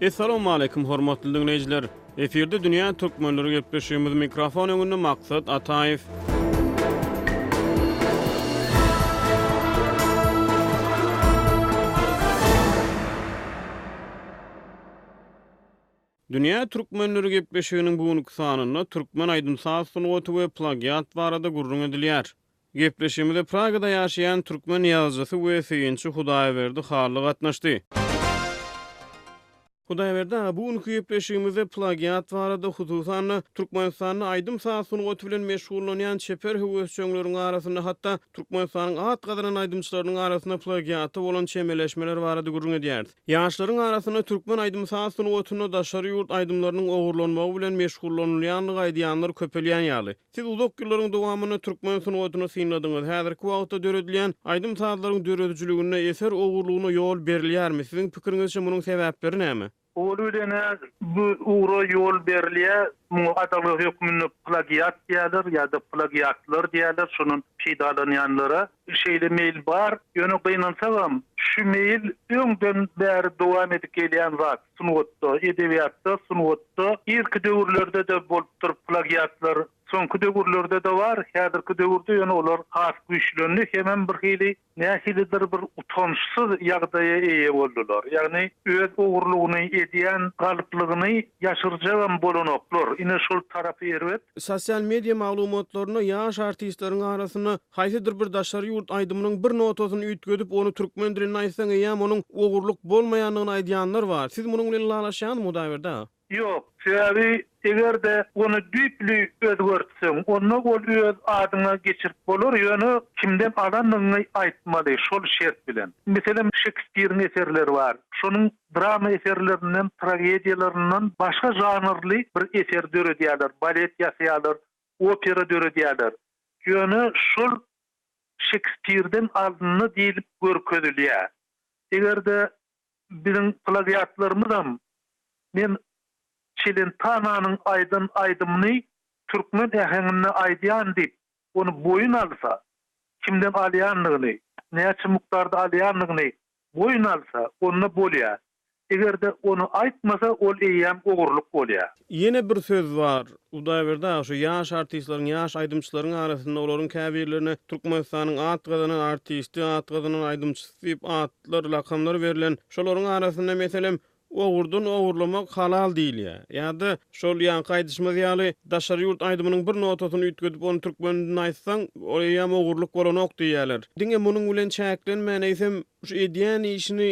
Essalawmaleýkum hormatly diňleýjiler! Efirde dünýä türkmenleri gepleşigimiz mikrofon öňünde Maksat Ataýew. Dünýä türkmenleri gepleşiginiň bu günki sanynda türkmen aýdym-saz sungaty we plagiat barada gürrüň edilýär. Gepleşigimize Pragada ýaşaýan türkmen ýazyjysy we synçy Hudaýberdi Hally gatnaşdy. Hudaýberdi aga, bu günki gepleşigimizde plagiat barada, hususan-da, Türkmenistanda aýdym-saz sungaty bilen meşgullanýan çeper höwesjeňleriň arasynda, hatda Türkmenistanyň at gazanan aýdymçylarynyň arasynda plagiata bolan çemeleşmeler barada gürrüň edýäris. Ýaşlaryň arasynda türkmen aýdym-saz sungatynda daşary ýurt aýdymlarynyň ogurlanmagy bilen meşgullanylýandygy aýdýanlar köpelýän ýaly. Siz uzak ýyllaryň dowamynda türkmen sungatyny synladyňyz. Häzirki wagtda döredilýän aýdym-sazlaryň döredijiliginde eser ogurlygyna ýol berilýärmi? Siziň pikiriňizçe munuň sebäpleri näme? Owal bilen-ä bu ugra ýol berilýär. Muňa adalga hökmünde plagiat diýerler ýa-da plagiatlar diýerler şundan peýdalanýanlara. Şeýle meýil bar, ýöne gynansagam, şu meýil öňden bäri dowam edip gelýän zat. Sungatda, edebiýatda, sungatda, irki döwürlerde-de bolupdyr plagiatlar. Soňky döwürlerde-de bar, häzirki döwürde ýöne olar has güýçlendi, hemem birhili, nähilidir bir utançsyz ýagdaýa eýe boldular. Ýagny, öz ogurlygyny edýän galyplygyny ýaşyrjagam bolanoklar. Ine, şol tarapy erbet. Sosial media maglumatlarynda ýaş artistleriň arasynda Haýsydyr bir daşary ýurt aýdymynyň bir notasyny üýtgedip, ony türkmen dilinde aýtsaň eýýäm onuň ogurlyk bolmaýandygyny aýdýanlar bar. Siz munuň bilen ylalaşýaňyzmy Hudaýberdi aga? Ýok. Sebäbi eger-de ony düýpli özgertseň, onda ol öz adyňa geçirip bolar, ýöne kimden alandygyňy aýtmaly, şol şert bilen. Meselem, Şekspiriň eserleri bar. Şonuň drama eserlerinden, tragediýalaryndan başga žanrly bir eser döredýärler, balet ýasaýarlar, opera döredýärler. Ýöne şol Şekspirden alyndy diýlip görkezilýär. Eger-de biziň plagiatlarymyzam Men Çelentananyň aýdan aýdymyny türkmen äheňinde aýdýan diýip ony boýun alsa, kimden alýandygyny, näçe mukdarda alýandygyny Boýun alsa, onda bolýa. Eger-de ony aýtmasa, ol eýýäm ogurlyk bolýa. Ýene bir söz bar. Hudaýberdi aga, şu ýaş artistleriň, ýaş aýdymçylaryň arasynda olaryň käbirlerine Türkmenistanyň at gazanan artisti, at gazanan aýdymçysy diýip atlar, lakamlar berlen. Şolaryň arasynda, meselem, Ogurdan ogurlamak halal diýilýär. Ýa-da, şol ýaňky aýdyşymyz ýaly, daşary ýurt aýdymynyň bir notasyny üýtgedip, ony türkmen dilinde aýtsaň, ol eýýäm ogurlyk bolanok diýýärler. Diňe munuň bilen çäklenmän, eýsem, şu edýän işini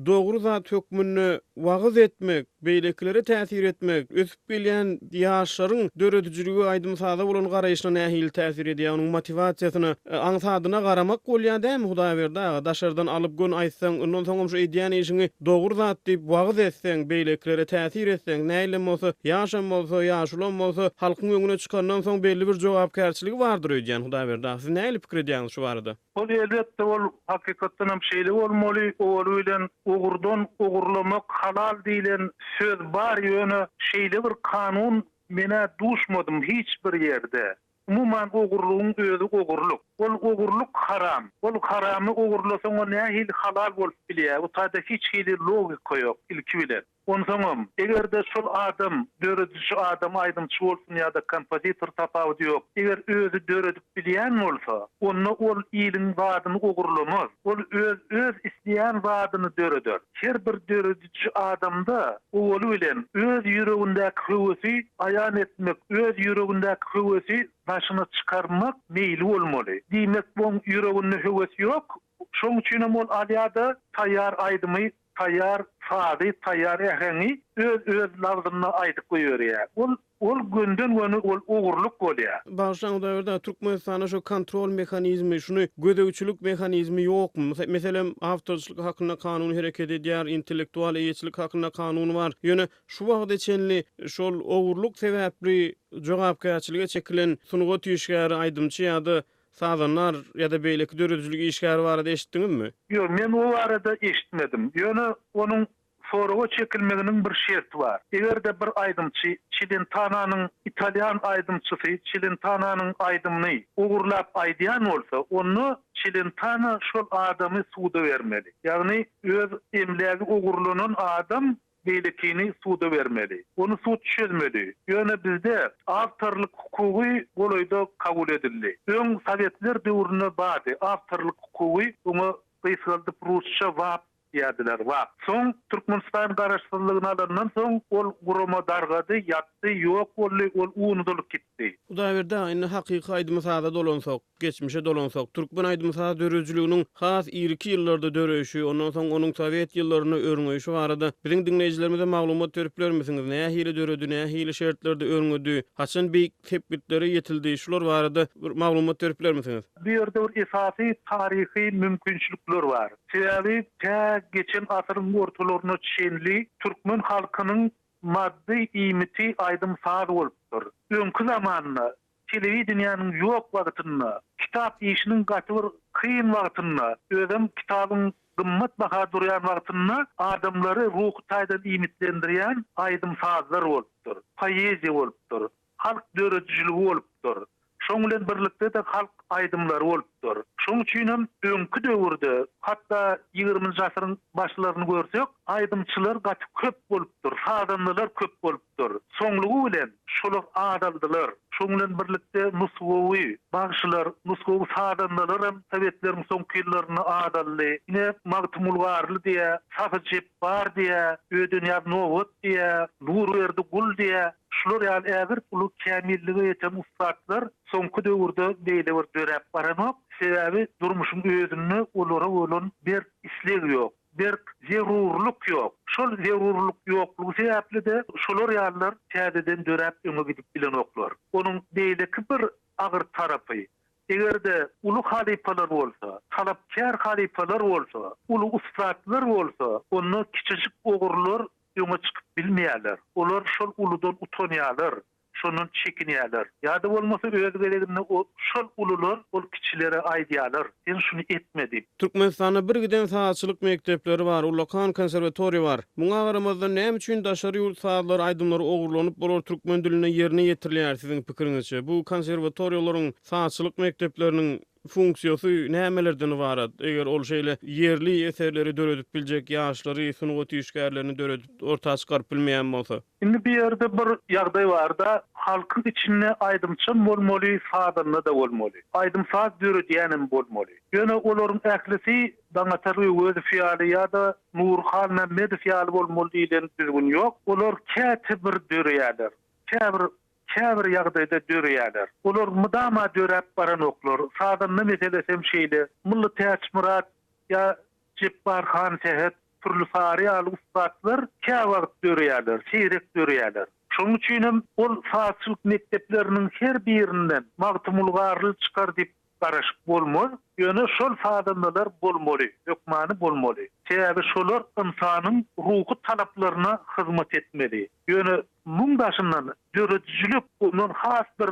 dogry zat hökmünde wagyz etmek, beýlekilere täsir etmek, ösüp gelýän ýaşlaryň döredijilige, aýdym-saza bolan garaýşyna nähili täsir edýär, onuň motiwasiýasyna, aňsadyna garamak bolýar dämi, Hudaýberdi aga? Daşardan alyp gön aýtsaň, ondan soňam şu edýän işiňi dogry zat diýip wagyz etseň, beýlekilere täsir etseň, näilem bolsa, ýaşam bolsa, ýaşulam bolsa, halkyň öňüne çykandan soň belli bir jogapkärçiligi bardyr öýdýän, Hudaýberdi aga, siz nähili pikir edýäňiz şu barada? Hol elbetde ol hakykatdan hem şeýle bolmaly, owaly bilen ogurdan ogurlamak halal diýlen söz bar ýöne şeýle bir kanun menä duşmadym hiç bir ýerde. Umuman ogurlygyň özi ogurlyk. Ol ogurlyk haram. Ol haramy ogurlasaň o nähili halal bolup bilýä, bu taýda hiç hili logika ýok ilki bilen. Onsoňam, eger-de şol adam dörediji adam aýdymçy bolsun ýa-da kompozitor tapawudy ýok, eger özi döredip bilýän bolsa, onda ol iliň zadyny ogurlamaz. Ol öz öz isleýän zadyny döreder. Her bir dörediji adamda owaly bilen öz ýüregindäki höwesi aýan etmek, öz ýüregindäki höwesi daşyna çykarmak meýli bolmaly. Diýmek, oň ýüreginde höwes ýok, şoň üçinem ol alýa-da taýýar aýdymy taýýar sazy, taýýar äheňi öz öz labzynda aýdyp goýberýär. Ol ol gönden göni ol ogurlyk bolýar. Bagyşlaň Hudaýberdi Türkmenistanda şu kontrol mehanizmi şuny gözegçilik mehanizmi ýokmy? Mysal meselem awtorçylyk hakynda kanun hereket edýär, intellektual eýeçilik hakynda kanun bar. Ýöne şu wagta çenli şol ogurlyk sebäpli jogapkärçilige çekilen sungat işgäri, aýdymçy ýa-da Sazandar ýa-da beýleki döredijilik işgäri barada eşitdiňizmi? Ýok, men o barada eşitmedim. Ýöne onuň soraga çekilmeginiň bir şerti bar. Eger-de bir aýdymçy Çilentananyň, italýan aýdymçysy Çilentananyň aýdymyny ogurlap aýdýan bolsa, onda Çilentana şol adamy suda bermeli. Ýagny öz emlägi ogurlanan adam beýlekini suda bermeli. Ony sud çözmeli. Ýöne bizde awtorlyk hukugy golaýda kabul edildi. Öň sowetler döwründe bardy awtorlyk hukugy, oňa gysgaldyp rusça wap diýerdiler, wap. Soň Türkmenistan garaşsyzlygyny alandan soň ol gurama dargady, ýatdy, ýok boldy, ol unudylyp gitdi. Hudaýberdi aga indi hakyky aýdymy saza dolansak. Geçmişe dolansak, türkmen aýdym-saz döredijiliginiň has irki ýyllarda döreýşi, ondan soň onuň sowet ýyllarynda örňeýşi barada biziň diňleýjilerimize maglumat berip bilermisiňiz, nähili döredi, nähili şertlerde örňedi, haçan beýik sepgitlere ýetildi, şular barada bir maglumat berip bilermisiňiz? Bu ýerde bir esasy taryhy mümkinçilikler bar. Sebäbi tä geçen asyryň ortalaryna çenli türkmen halkynyň maddy iýmiti aýdym-saz bolupdyr. Öňki zamanda Telewideniýäniň ýok wagtynda, kitap işiniň gaty bir kyn wagtynda, özem kitabyň gymmat baha durýan wagtynda adamlary ruhy taýdan iýmitlendirýän aýdym-sazlar bolupdyr, poeziýa bolupdyr, halk döredijiligi bolupdyr. Şoň bilen birlikde-de halk aýdymlary bolupdyr. Şoň üçin hem öňki döwürde, hatda ýigriminji asyryň başlaryny görsek, aýdymçylar gaty köp bolupdyr, sazandalar köp bolupdyr. bolupdyr. Soňlugy bilen şolar azaldylar. Şoň bilen birlikde nusgawy bagşylar, nusgawy sazandalaram sowetleriň soňky ýyllarynda azaldy. Ine, Magtymguly Garly diýä, Sahy Jepbar diýä, Öýdenýaz Nobat diýä, Nurberdi Gul diýä, şular ýaly ägirt uly kämillige ýeten ussatlar soňky döwürde beýle bir döräp baranok. Sebäbi durmuşyň özünde olara bolan berk isleg ýok. berk zerurlyk ýok. Şol zerurlyk ýoklugy sebäpli-de şolar ýalylar täzeden döräp öňe gidip bilenoklar. Onuň beýleki bir agyr tarapy, eger-de uly halypalar bolsa, talapkär halypalar bolsa, uly ussatlar bolsa, onda kiçijik ogrular öňe çykyp bilmeýärler. Olar şol uludan utanýarlar. şondan çekinýärler. Ýa-da bolmasa öz gezeginde şol ulular ol kiçilere aýdýarlar, sen şuny etme diýip. Türkmenistanda bir giden sazçylyk mekdepleri bar, ullakan konserwatoriýa bar. Muňa garamazdan näme üçin daşary ýurt sazlary, aýdymlary ogurlanyp, bular türkmen dilinde ýerine ýetirilýär, siziň pikiriňizçe, bu konserwatoriýalaryň, sazçylyk mekdepleriniň Funksiýasy nämelerden ybarat? Eger ol şeýle ýerli eserleri döredip biljek ýaşlary, sungat işgärlerini döredip orta çykaryp bilmeýän bolsa? Indi bu ýerde bir ýagdaý barda, halkyň içinde aýdymçam bolmaly, sazanda-da bolmaly. Aýdym-saz döredýänem bolmaly. Ýöne olaryň ählisi Daňatar Öwezow ýaly ýa-da Nury Halmämmedow ýaly bolmaly diýlen düzgün ýok. Olar käte bir döreýärler. Käbir käbir ýagdaýda döreýärler. Olar mydama döräp baranoklar. Sazanda meselesi hem şeýle. Mylly Täçmyrat ýa Jepbar han Sähet, Pürli Sary ýaly ussatlar käwagt döreýärler, seýrek döreýärler. Şonuň üçin hem ol sazçylyk mekdepleriniň her birinden Magtymguly Garly çykar diýip Garaşyp bolmaz, ýöne şol sazandalar bolmaly, hökmany bolmaly. Sebäbi şolar ynsanyň ruhy talaplaryna hyzmat etmeli. Ýöne muň daşyndan döredijilik ondan has bir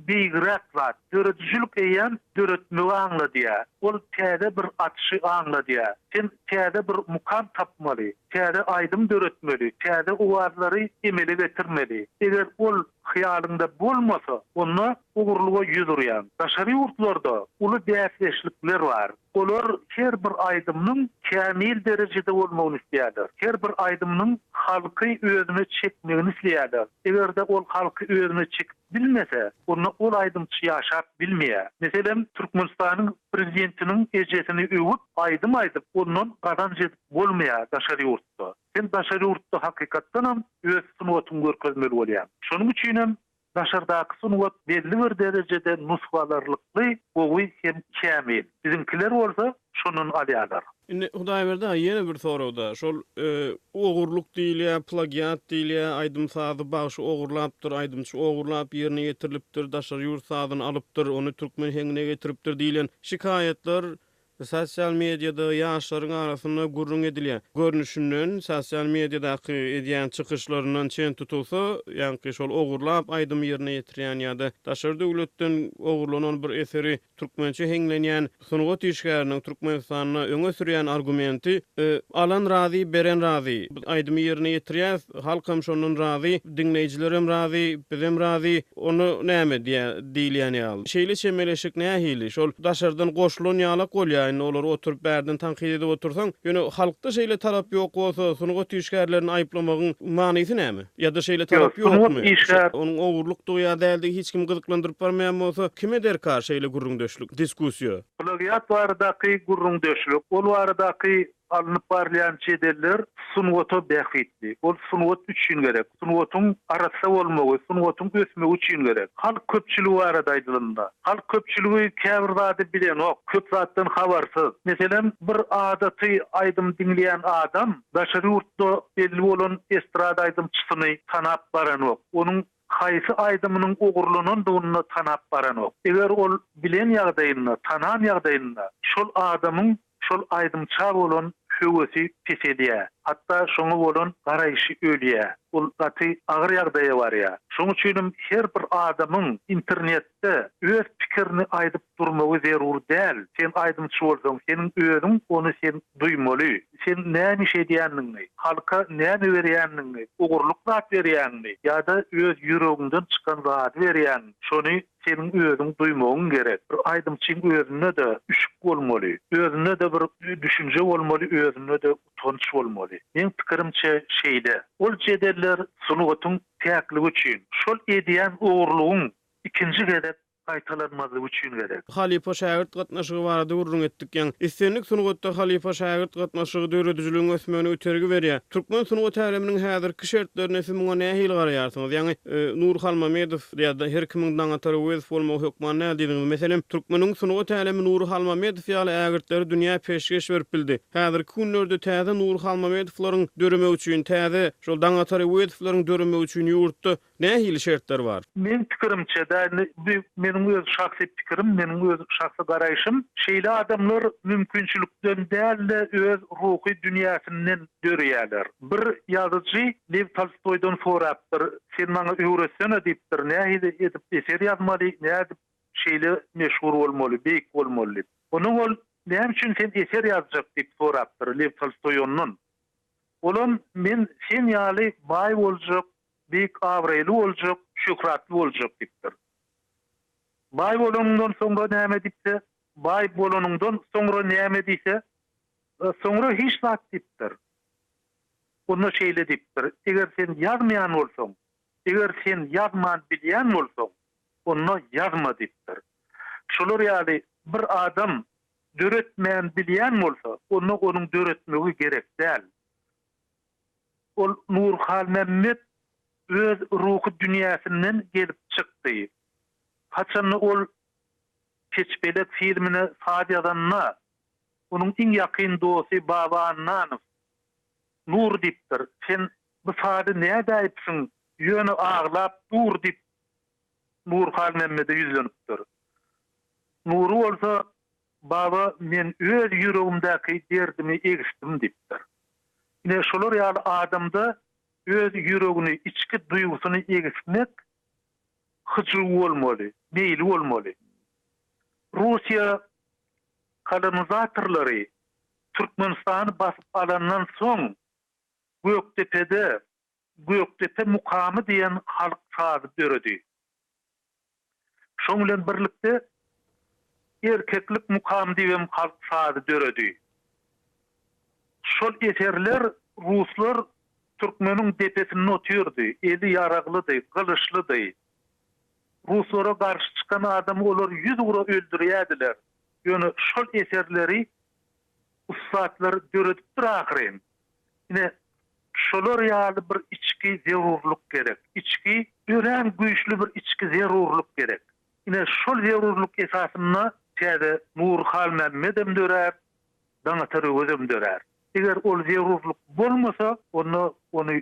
beýigräk zat. Döredijilik eýýäm döretmegi aňladýar. Ol täze bir açyşy aňladýar. Sen täze bir mukam tapmaly, täze aýdym döretmeli, täze owazlary emele getirmeli. Eger ol hyýalyňda bolmasa, onda ugurlyga ýüz urýan daşary ýurtlarda uly bäsdeşlikler bar. Olar her bir aýdymynyň kämil derejede bolmagyny isleýärler. Her bir aýdymynyň halky özüne çekmegini isleýärler. Eger-de ol halky özüne çekip bilmese, onda ol aýdymçy ýaşap bilmeýär. Meselem, Türkmenistanyň Prezidentiniň ejesini öwüp, aýdym aýdyp, ondan gazanç edip bolmaýar daşary ýurtda. Sen daşary ýurtda hakykatdanam öz sungatyňy görkezmeli bolýaň. Şonuň üçinem Daşardaky sungat belli bir derejede nusgalarlykly gowy hem kämil. Biziňkiler bolsa şondan alýarlar. Indi Hudaýberdi aga ýene bir soragda şol ogurlyk diýilýär, plagiat diýilýär, aýdym-sazy bagşy ogurlapdyr, aýdymçy ogurlap ýerine ýetirilipdir, daşary ýurt sazyny alypdyr, ony türkmen heňine getiripdir diýlen şikaýatlar Sosial mediada ýaşlaryň arasynda gürrüň edilýär. Görnüşinden, sosial mediadaky edýän çykyşlaryndan çen tutulsa, ýaňky şol ogurlap aýdym ýerine ýetirýän ýa-da daşary döwletden ogurlanan bir eseri türkmençe heňlenýän sungat işgäriniň Türkmenistanda öňe sürýän argumenti, Alan razy, beren razy. Biz aýdymy ýerine ýetirýäs, halkam şondan razy, diňleýjilerem razy, bizem razy. Onda näme diýýär, diýilýän ýaly. Şeýle çemeleşik nähili? Şol daşardan goşulan ýalak bolýar. Indi olary oturyp bärden tankyt edip otursaň, ýöne halkda şeýle talap ýok bolsa, sungat işgärlerini aýyplamagyň manysy näme? Ýa-da şeýle talap ýokmy? Onuň ogurlykdygy ýa däldigi hiç kimi gyzyklandyryp barmaýan bolsa, kime derkar şeýle gürrüňdeşlik, diskussiýa? Plagiat baradaky gürrüňdeşlik, ol baradaky Alnyp barylýan jedeller sungata bähbitli. Ol sungat üçin gerek. Sungatyň arassa bolmagy, sungatyň ösmegi üçin gerek. Halk köpçüligi barada aýdylanda, halk köpçüligi käbir zady bilenok, köp zatdan habarsyz. Meselem, bir adaty aýdym diňleýän adam daşary ýurtda belli bolan estrada aýdymçysyny tanap baranok. Onuň haýsy aýdymynyň ogurlanandygyny-da tanap baranok. Eger ol bilen ýagdaýynda, tanan ýagdaýynda, şol adamyň şol aýdymça bolan höwesi peselýär. Hatda şoňa bolan garaýşy ölýär. Ol gaty agyr ýagdaýa barýar. Şoň üçinem her bir adamyň internet Ýöne-de, öz pikirini aýdyp durmagy zerur däl. Sen aýdymçy bolsaň, seniň özüň ony sen duýmaly. Sen näme iş edýändigiňi, halka näme berýändigiňi, ugurlyk zat berýäňmi ýa-da öz ýüregiňden çykan zady berýäň, şony seniň özüň duýmagyň gerek. Bir aýdymçyň özünde-de üşük bolmaly, özünde-de bir düşünje bolmaly, özünde-de utanç bolmaly. Meň pikirimçe şeýle. Ol jedeller sungatyň päkligi üçin, şol edýän ogurlygyň ikinji gezek gaýtalanmazlygy üçin gerek. Halypa-şägirt gatnaşygy barada gürrüň etdik. Ýaň, islendik sungatda halypa-şägirt gatnaşygy döredijiligiň ösmegine itergi berýär. Türkmen sungat äleminiň häzirki şertlerinde siz muňa nähili garaýarsyňyz? Ýaňy, Nur Halmamedow ýa-da her kimiň Daňatar Öwezow bolmagy hökman däl diýdiňiz. Meselem, türkmeniň sungat älemi Nury Halmamedow ýaly ägirtleri dünýä peşgeş berip bildi. Häzirki günlerde täze Nury Halmamedowlaryň döremegi üçin täze. Şol Daňatar Öwezowylaryň döremegi üçin ýurtda nähili şertler bar? Meň pikirimçe-dä, indi bu meniň öz şahsy pikirim, meniň öz şahsy garaýşym, şeýle adamlar mümkinçilikden däl-de, öz ruhy dünýäsinden döreýärler. Bir ýazyjy Lew Tolstoýdan sorapdyr, Sen maňa öwretsene diýipdir, nähili edip eser ýazmaly, nädip şeýle meşhur bolmaly, beýik bolmaly diýip. Ondan ol, Näme üçin sen eser ýazjak diýip sorapdyr Lew Tolstoý ondan. Olam men sen ýaly baý boljak, beýik abraýly boljak, şöhratly boljak diýipdir. Baý bolanyňdan soňra näme diýse, baý bolanyňdan soňra näme diýse, soňra hiç zat diýipdir. Onda şeýle diýipdir, eger sen ýazmaýan bolsaň, eger sen ýazman bilýän bolsaň, onda ýazma diýipdir. Şolar ýaly bir adam Döretmän bilýän bolsa, onda onuň döretmegi gerek däl. Ol Nurhalmämmet öz ruhy dünýäsinden gelip çykdy. Haçanda ol Keçpelek filmine saz ýazanda, onuň iň ýakyn dosty Baba Annanow, Nur diýipdir, sen bu sazy nädäýipsiň, ýöne aglap dur diýip Nur Halmämmede ýüzlenipdir. Nury bolsa, Baba, men öz ýüregimdäki derdimi egişdim diýipdir. Ine, şolar ýaly adamda öz ýüregini, içki duýgusyny egişmek hyjuwy bolmaly, meýli bolmaly. Russiýa kolonizatorlary Türkmenistany basyp alandan soň Gökdepede, Gökdepe mukamy diýen halk sazy döredi. Şoň bilen birlikde Erkeklik mukamy diýibem halk sazy döredi. Şol eserler ruslar türkmeniň depesinde otyrdy, eli ýaraglydy, gylyçlydy. Ruslara garşy çykan adamy olar ýüz ura öldürýärdiler. Ýöne şol eserleri Ussatlar döredipdir ahyryn. Ine, şolar ýaly bir içki zerurlyk gerek. Içki, örän güýçli bir içki zerurlyk gerek. Ine, şol zerurlyk esasynda täze Nury Halmämmedem dörär, Daňatar Öwezem dörär. Eger ol zerurlyk bolmasa, onda ony